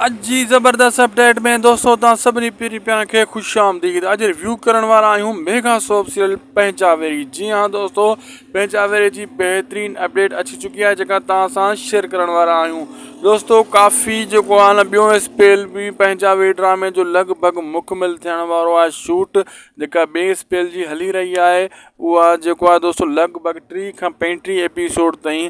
اڄ جي زبردست اپ ڊيٽ ۾ دوستو تان سڀني پيري پيان کي خوش آمديد اڄ ريويو ڪرڻ وارا آهيون ميگا سوپ سيريل پنهنجا ويري جي ها دوستو پنهنجا ويري جي بهترين اپ ڊيٽ اچي چڪي آهي جيڪا تان سان شيئر ڪرڻ وارا آهيون دوستو ڪافي جيڪو آهي نه ٻيو اسپيل به پنهنجا ويري ڊرامي جو لڳ ڀڳ مڪمل ٿيڻ وارو آهي شوٽ جيڪا ٻي اسپيل جي هلي رهي آهي اها جيڪو آهي دوستو لڳ ڀڳ ٽي کان پنجٽيهه ايپيسوڊ تائين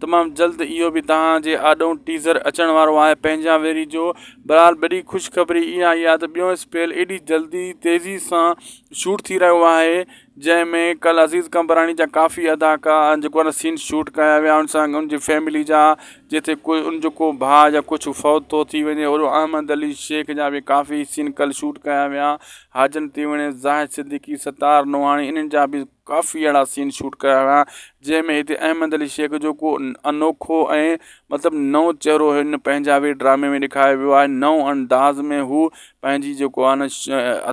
تمام جلد اهو به توهان جي آڏون ٽيزر اچڻ وارو آهي پنهنجا ويريجو بھرحال وڏي خوشخبري اها آهي ته ٻيون اسپيل ايڏي جلدي تيزي سان شوٽ ٿي رهيو آهي جنهن ۾ ڪل عزيز قمبراڻي جا ڪافي اداڪا جيڪو آهي سين شوٽ ڪيا ويا ان سان ان جي فيملي جا جتي ڪو ان جو ڪو ڀاء يا ڪجهه فوت ٿو ٿي وڃي اهڙو احمد علي شيخ جا به ڪافي سين ڪل شوٽ ڪيا ويا حاجن تيوڻي زاهد صديقي ستار نوحاڻي انهن جا به ڪافي اهڙا سين شوٽ ڪيا ويا جنهن ۾ هتي احمد علي شيخ جو ڪو انوکو ۽ مطلب نئون چهرو هن پنهنجا به ڊرامي ۾ ڏيکاريو ويو آهي نئون انداز ۾ هو پنهنجي جيڪو آهن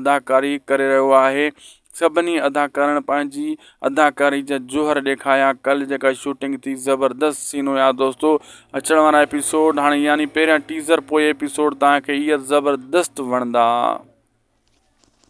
اداڪاري ڪري رهيو آهي سڀني اداڪارن پنهنجي اداڪاري جا جوهر ڏيکاريا ڪل جيڪا شوٽنگ ٿي زبردست سين هيا دوستو اچڻ وارا ايپيسوڊ هاڻي يعني پهريان ٽيزر پوء ايپيسوڊ تان کي ايئر زبردست وڻندا